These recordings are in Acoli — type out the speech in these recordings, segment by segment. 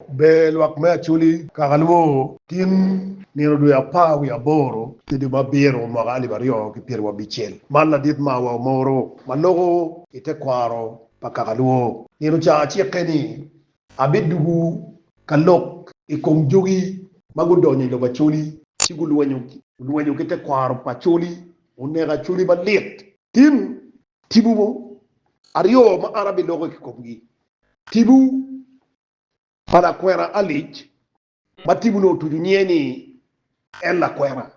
Ber lwak me acholi kaka lwongo tin nino dwe apar wiye aboro ki dwe me abiro mwaka alip aryo ki pyeri wa bicel. Man ladit ma wa omoro ma loko i te kwaro pa kaka lwongo nino ca acike ni abidugu ka lok i kom jogi ma gudonyo i lobo acholi ci gulwenyo ki te kwaro pa acholi oneko acholi malit. Tin tibu mo aryo ma an abiloko ki komgi, tibu pa lakwena Alice ma tibu nongo otucu nyinge ni En Lakwena.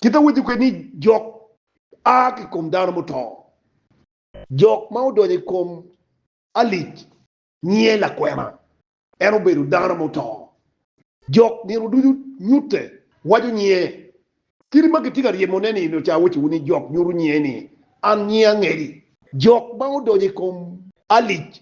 Kit awaco kwede ni jok a ki i kom dano muto. Jok ma odonyo i kom Alice nyinge Lakwena. En obedo dano muto. Jok nino ducu nyutte, waco nyinge. Kit ma kitye ka ryemone ni nongo ca awacowu ni jok nyuto nyinge ni An nyinga angeli. Jok ma odonyo i kom Alice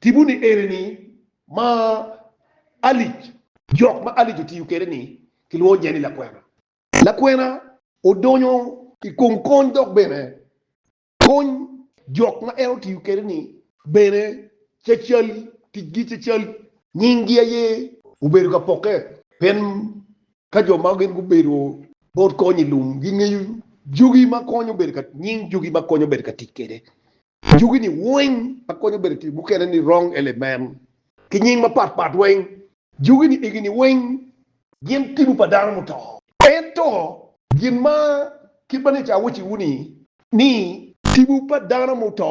Tipo ni eni ni ma alic. Jok ma alic otiyo kede ni kilwongo nye ni lakwena. Lakwena odonyo i kom kony dok bene kony. Jok ma en otiyo kede ni bene cacal ticgi cacal nying gi aye. Obedo ka poke pien ka jo ma gin gubedo bot kony i lum gi ngeyo jogi ma konyo bedo ka nying jogi ma konyo bedo ka tic kede. Anyogi-ni weng akonyo bedo tic mukene ni rong elemen ki nying mapat pat weng. Jogi-ni igi-ni weng gin tibu pa dano muto. Ento gin ma kit ma ni ca awacciwu ni, ni. Tibu pa dano muto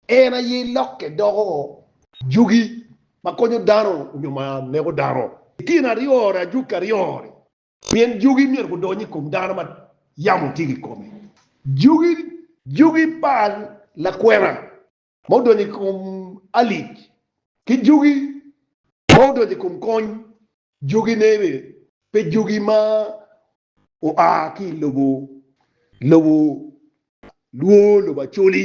en aye lokke doko jogi ma konyo dano nyo ma neko dano. I tyen aryo-ri, ajwog ki aryo-ri, Pien jugi myero gudony i kom dano ma yamo tye ki kome. Jugi. Jugi pa lakwena ma odonyo i kom alic, ki jugi ma odonyo i kom kony jugine bene, pe jugi ma oa ki i lobo lwor lobo Acholi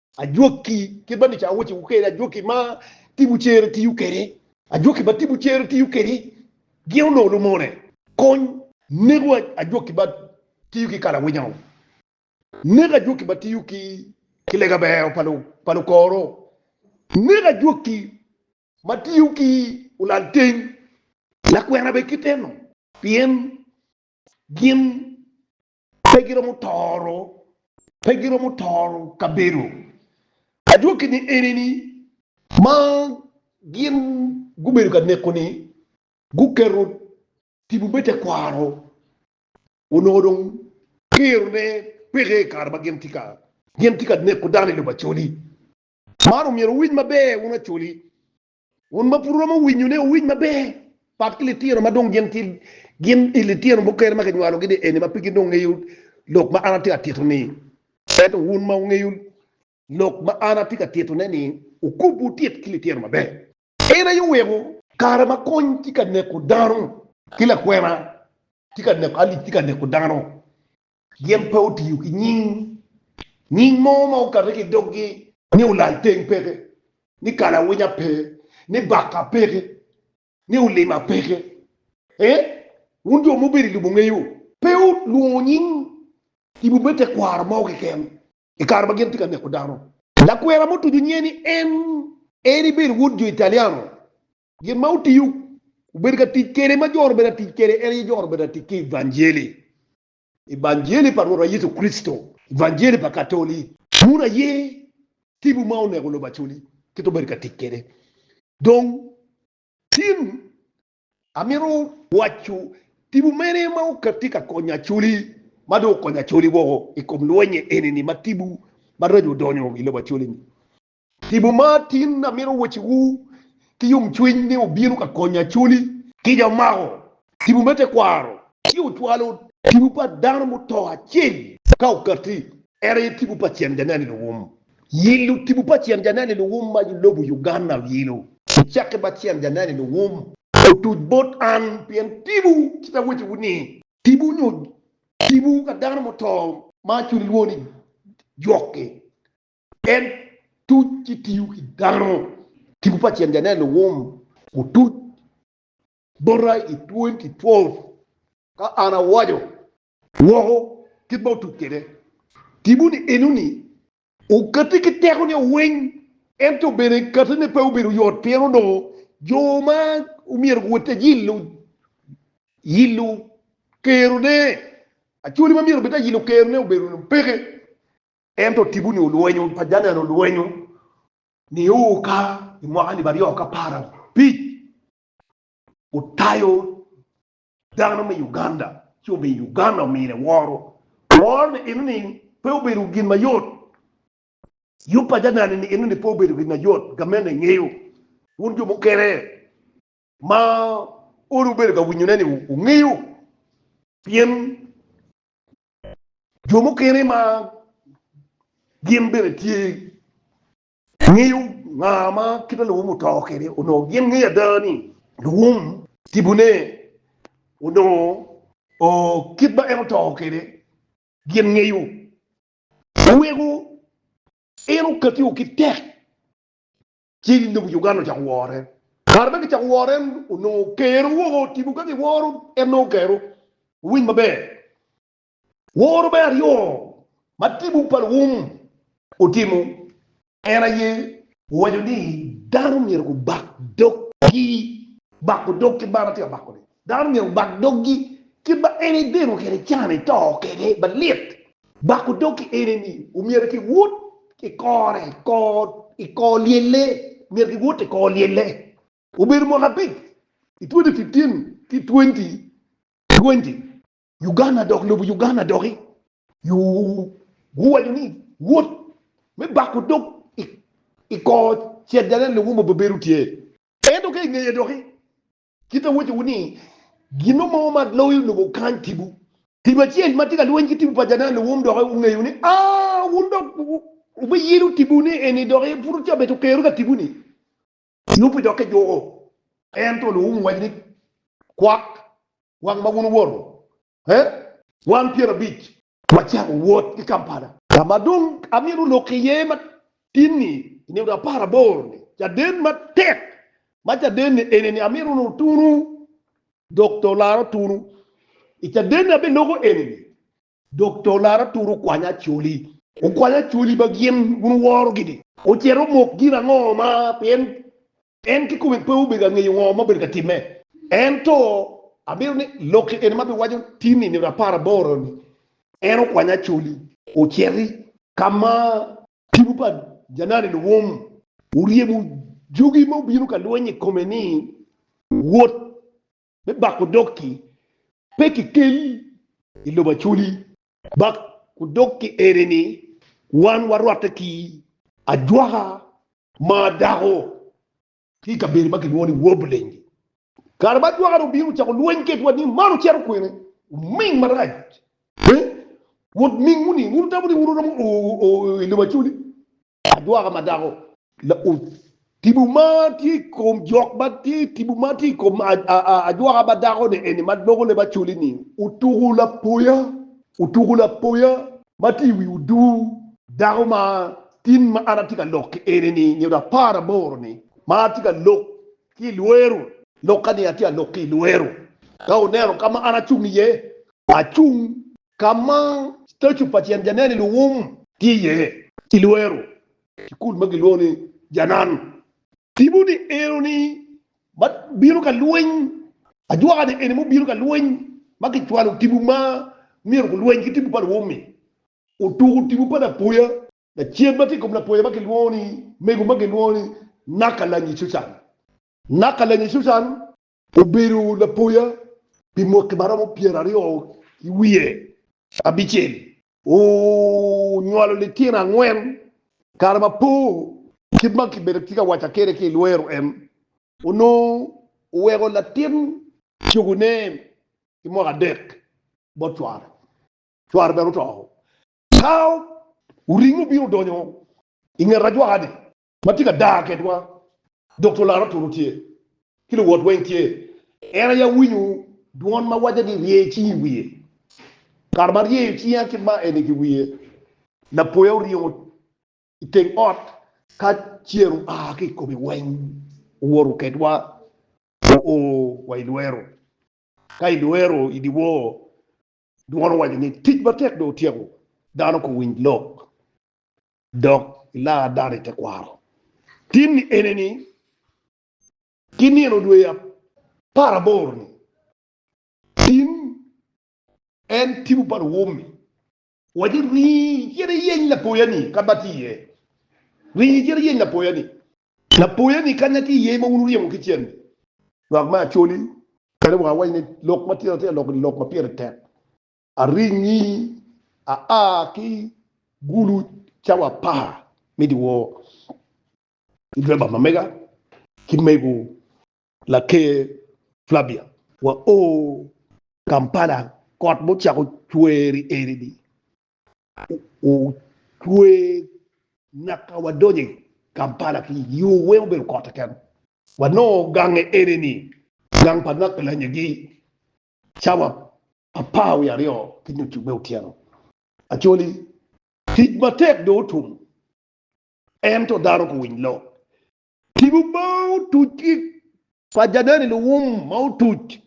Ajwaki, kit ma nica awaco wu kede, ajwaki ma tibu cere tiyo kede. Ajwaki ma tibu cere tiyo kede gin onongo lumone. Kony neko ajwaki ma tiyo ki kalawinya o. Nek ajwaki ma tiyo ki ki lega beo pa lukor o. Nek ajwaki ma tiyo ki ulal teng lakwena bene kite no. Pien gin Pe giromo toro, pe giromo toro kabedo. Adwoki ni enini, ma gin gubedo ka neko ni guketo tipo me tekwaro onongo dong kero ne peke i kare ma gin tye ka gin tye ka neko dano i lobo Acholi. Man omyero wuwiny maber wun Acholi Wun ma pud romo winyone, wuwiny maber pat ki litino ma dong gin tye gin i litino mukene ma kinywalogi dye eni ma pe gin dong ngeyo lok ma an atye ka tito-ni. Ento wun ma wungeyo lok ma an atye ka titone-ni, wukub wutit ki litino maber. En aye oweko kare ma kony tye ka neko dano, ki lakwena tye ka neko alic tye ka neko dano. Gin pe otiyo ki nying nying mo ma okato ki i doggi, ni Olalteng peke, ni Kalawinya pe, ni Baka peke, ni Olima peke. Ee, wun jo ma wubedo i lobo wungeyo. Pe olwongo nying tipo me tekwaro mo keken i kare ma gin tye ka neko dano. Lakwena mutuco nyiye ni en, en ibedo wod jo Italiano Gin ma otiyo obedo ka tic kwede ma joro bedo ka tic kwede en aye joro bedo ka tic ki Evanjeli, Evanjeli pa Rwotwa Yecu Kricito, Evanjeli pa Katoli. Muno aye tibu ma oneko lobo Acoli kit obedo ka tic kwede. Dong tin amito waco tibu mene ma tye ka konyo Acoli ma dong okonyo Acoli woko i kom lwenye eni-ni ma tibu maraco odonyo i lobo Acoli-ni. Tipo mar tin amito wacciwu ki yomcwiny ni wubino ka konyo Acholi. Kica omako tipo me tekwaro ci ocwalo tipo pa dano muto acel ka okatti, en aye tipo pa Cen Janene Luwum. Yilo tipo pa Cen Janene Luwum ma lobo Uganda oyilo ocakke ma Cen Janene Luwum otuc bot an pien tipo ci pe awacciwu ni tipo nyo tipo ka dano muto ma Acholi lwongo ni Jwok-ki. En tuc ki tiyo ki dano. Tipo pa Ceng Janeno Wum otuc bota i 2012 ka an awaco woko kit ma otuc kwede. Tipo-ni enoni okati ki teko nio weng, ento bene katine pe obedo yot pien onongo jo ma omyero guwot te yilo yilo kerone, acholi ma myero obed te yilo kerone obedo peke. Ento tipo-ni olwenyo pa Janan olwenyo nio ka i mwaka alip aryo k'apar abic otayo dano me Uganda ci obedo i Uganda omine woro. Woro ni eno ni pe obedo gin mayot. Yub pa Janan ni eno ni pe obedo gin mayot. Gamente engeyo wun jo mukene ma olo wubedo ka winyone ni wungeyo pien Jo mukene ma gin bene tye ngeyo nga ma kit ma luwum oto kwede onongo gin ngeyo ada ni luwum tibone onongo kit ma en oto kwede gin ngeyo. Oweko en okatiwa ki tek ci dong Uganda ocako woro en. Kare ma kicako woro en onongo kero woko tipo ka kiworo en nongo kero. Wuwiny maber, woro me aryo ma tipo pa Luwum otimo en aye. Owaco ni dano myero gubak doggi, bako dog ki man atye ka bako-ni. Dano myero obak doggi kit ma en edeno kede can eto kede malit. Bako dog ki ene ni omyero ki wot ki kore i kor lyelle, myero ki wot i kor lyelle. Obedo mwaka abic i twenti fiftin ki twenti twenti. Uganda dok lobo Uganda doki yo guwaco ni wot me bako dog i kor cet jane lobo mo pe bedo tye. Ento ka ingeye doki Kit awacowu ni, gino mo ma loyo lobo kany tipo. Tipo acel ma tye ka lweny ki tipo pa Janaan Luwum dok ongeyo ni, a wun dok wubiyelo tipo ni eni dok en pud ca bene okero ka tipo ni. Yupi dok ejuko. Ento Luwum owaco ni, kwak wang ma wun wuwoto, he? Wan pyerabic. Wacako wot ki Kampala. Ka ma dong amito lok iye matin-ni, i nino apar aboro-ni, caden matek ma caden-ni eni ni amito wunu tunu, dok to olara tunu. I caden-ni abeloko eni ni, dok to olara tunu okwanya acoli. Okwanya acoli ma gin wun wuworo-gi-ni ocito omok gin ango ma pien En kikome pe obedo ka ngeyo ngo ma obedo ka timme. Ento amito ni lokke eni ma biwaco tin i nino apar aboro ni, En okwanya acoli. Ociti ka ma tipo pa janani luwum oryemo jogi ma obino ka lweny i kome ni, Wot me bako dog-ki pe kikel i lobo acoli. Bako dog-ki eni ni wan warwatte ki ajwaka Maa dako tye i kabedo ma kilwongo ni Wobulenje. Kare ma jwakane obino ocako lweny kedwa ni man ocito kwene, oming marac. Piny, wot mingwu ni wun wutamo ni wun wuromo o i lobo Acoli, ajwaka ma dako. Laub, Tipo ma tye i kom jok ma tye tipo ma tye i kom ajwaka ma dako-ni eni ma loko leb Acoli ni otuko lapoya Otuku lapoya ma tye i wi oduu dako ma tin ma an atye ka lok ki en ni nyodo apar aboro ni ma atye ka lok ki i lweru. Lok ka ni atye a lok ki i lweru ka oneno ka ma an acung iye, acung ka ma statue pa tyen janene luwum tye iye. I lweru, cukul ma gilwongo ni Janan Tipo ni eno ni ma bino ka lweny, ajwaka ni eni mu bino ka lweny ma ki cwalo tipo ma myero ku lweny ki tipo pa luwum-mi. Otuku tipo pa lapoya lacen ma tye i kom lapoya ma ki lwongo ni mego ma ki lwongo ni Naka lanyi Cucan. Naka lanyi Cucan obedo lapoya pi mwaki ma romo pyera aryo ki wiye abicel. Wunywalo litino angwen kare ma po kit ma kibedo atye ka waca kwede ki i lwero en. Onongo wuweko latin cogone ki mwaka adek bot cware. Cware bene oto. Ka wuringo wubino wudonyo i nget ajwaka-ni. Ma tye ka dar kedwa dok to laro turu tye, ki luwot weng tye, en aye awinyo dwon ma waco ni, Rye cingi i wiye. Kare ma aryeyo cinga ki ma eni ki wiye, lapoya oryemo i teng ot ka cer oa ki i kome weng, owoto kedwa oo wa i lwero. Ka i lwero i dyewor, dwon owaco ni, Tic matek dong otyeko, dano kowiny lok. dok ilar dano i tekwaro. Timmi ene ni, ki nino dwe aparaboro ni, tim en tipo pa luwommi. Waco ni, ringi cit iyeny lapoya ni ka ma tye iye. Ringi cit iyeny lapoya ni. Lapoya ni kanya tye iye ma wun wuryemo ki cen ni. Lwak me Acholi kadi wa awac ni lok ma tira tira lok ni lok ma pire tek Aringi aa ki gulu cawa apar me dyewor ki diriba ma mega ki mego Laker Flavia. Wao Kampala kot ma ocako cwer i eni-ni ocwer nyaka wadonyo i Kampala ki yo weng obedo kot keken. Wanongo gange eni-ni gang pa Nakalanyagi Cawa apar wiye aryo ki nucu me otyeno Acholi, tic matek dong otum, ento dano pe owiny lok. Tipo ma otuc ki pa Janani Luwum ma otuc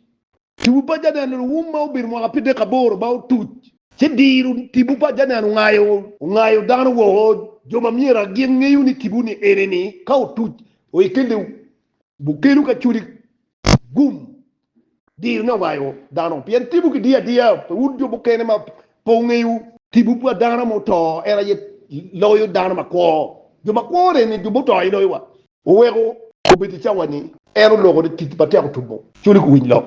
Tipo pa Janani Luwum ma obedo mwaka apidek aboro ma otuc ci diro tipo pa Janani ongayo ongayo dano woko. Jo ma myero agin ngeyo ni tipo ni ene ni ka otuc oike lew bukelu ki Acholi gum Dirne owayo dano pien timwu kidiyo adiya pi wun jo mukene ma pe wungeyo. Timwu pa dano ma oto en aye loyo dano makwo, jo makwo ni ni jo muto aye loyo wa. Oweko obed i cawa ni en oloko ni tic matek otumo. Culi ku winy lok